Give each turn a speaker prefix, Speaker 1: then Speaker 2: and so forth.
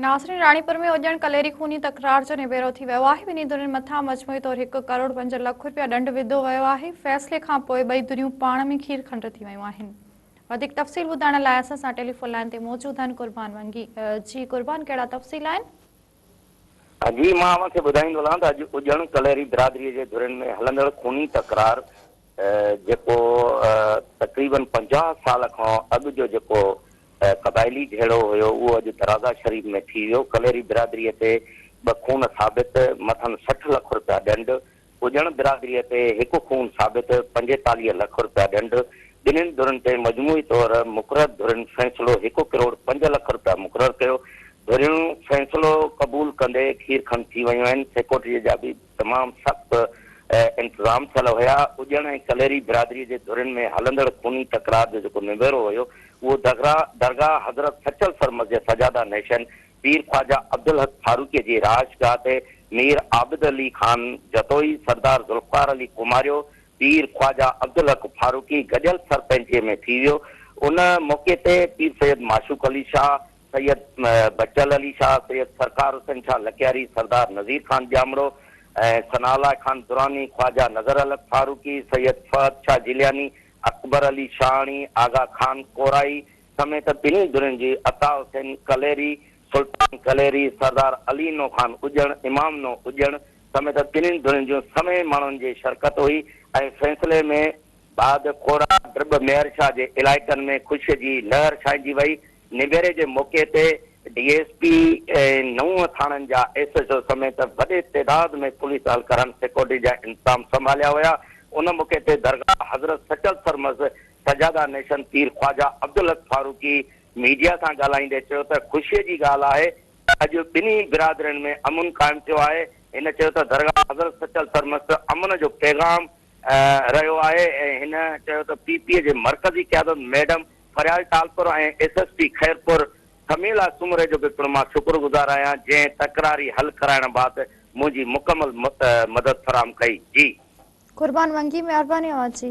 Speaker 1: ناصرين راڻيپور ۾ اڄڻ ڪليري خوني تڪرار جو نبيرو ٿي ويو آهي ٻنهي ڌرين مٿان مجموعي طور هڪ ڪروڙ پنج لک رپيا ڏنڊ وڌو ويو آهي فيصلي کان پوء ٻئي ڌريون پاڻ ۾ کير کنڊ ٿي ويون آهن وڌيڪ تفصيل ٻڌائڻ لاء اسان سان ٽيليفون لائن تي موجود آهن قربان ونگي جي قربان ڪهڙا تفصيل آهن
Speaker 2: جي مان اوهان کي ٻڌائيندو هلان ته اڄ اڄڻ ڪلهري برادري جي ڌرين ۾ هلندڙ خوني تڪرار جيڪو تقريبن پنجاهه سال کان اڳ جو جيڪو قبائلي جهيڙو هيو اهو اڄ درازا شريف ۾ ٿي ويو ڪلهري برادري تي ٻه خون ثابت مٿن سٺ لک رپيا ڏنڊ ٻجهڻ برادري تي هڪ خون ثابت پنجيتاليهه لک رپيا ڏنڊ، ٻنهين ڌرين تي مجموعي طور مقرر ڌرين فيصلو هڪ ڪروڙ پنج لک رپيا مقرر ڪيو، ڌريون فيصلو قبول ڪندي کير کن ٿي ويون آهن، سيڪورٽيء جا به تمام سخت انتظام ٿيل هيا، ٻجهڻ ۽ ڪليري برادري جي ڌرين ۾ هلندڙ خوني تڪرار جو جيڪو نبيرو هيو اهو درگاهه حضرت سچل سر مسجد سجاده نيشن پير خواجه عبدالحق ڦاروقيء جي رهائشگاهه تي مير عابد علي خان جتوئي، سردار ذوالفقار علي ڪماريو، پير خواجه عبدالحق ڦاروقي گڏيل سر پنهنجي ۾ ٿي ويو. ان موقعي تي پير سيد معشوق علي شاهه، سيد بچل علي شاهه، سيد سرڪار حسين شاهه لڪياري، سردار نذير خان ڄامڙو ۽ ثناء الله خان دراني، خواجه نظرالحق ڦاروقي، سيد فهد شاهه جيلياني، اڪبر علي شاهاڻي، آغا خان ڪورائي، سميت ٻنهي ڌرين جي عطاء حسين ڪليري، سلطان ڪليري، سردار علي نو خان اڄڻ، امام نو اڄڻ سميت ٻنهي ڌرين جون سوين ماڻهن جي شرڪت هئي ۽ فيصلي ۾ بعد کورا ڊرٻ ميرشاهه جي علائقن ۾ خوشي جي لهر ڇائنجي وئي. نبيري جي موقعي تي ڊي ايس پي ۽ نو ٿاڻن جا ايس ايڇ او سميت وڏي تعداد ۾ پوليس اهلڪارن سيڪورٽي جا انتظام سنڀاليا ويا. ان موقعي تي درگاهه حضرت سچل سرمست سجاده نيشن پير خواجه عبدالحق فاروقي ميڊيا سان ڳالهائيندي چيو ته خوشي جي ڳالهه آهي ته اڄ ٻنهي برادرين ۾ امن قائم ٿيو آهي، هن چيو ته درگاهه حضرت سچل سرمست امن جو پيغام رهيو آهي ۽ هن چيو ته پي پي جي مرڪزي قيادت madam Faryal Talpur ۽ S S P Khairpur Sumaila Soomro جو به پڻ مان شڪر گذار آهيان جنهن تڪراري حل ڪرائڻ بعد منهنجي مڪمل
Speaker 1: مدد
Speaker 2: فراهم
Speaker 1: ڪئي
Speaker 2: جي
Speaker 1: قربان
Speaker 2: ونگي مهرباني
Speaker 1: اوهان
Speaker 2: جي.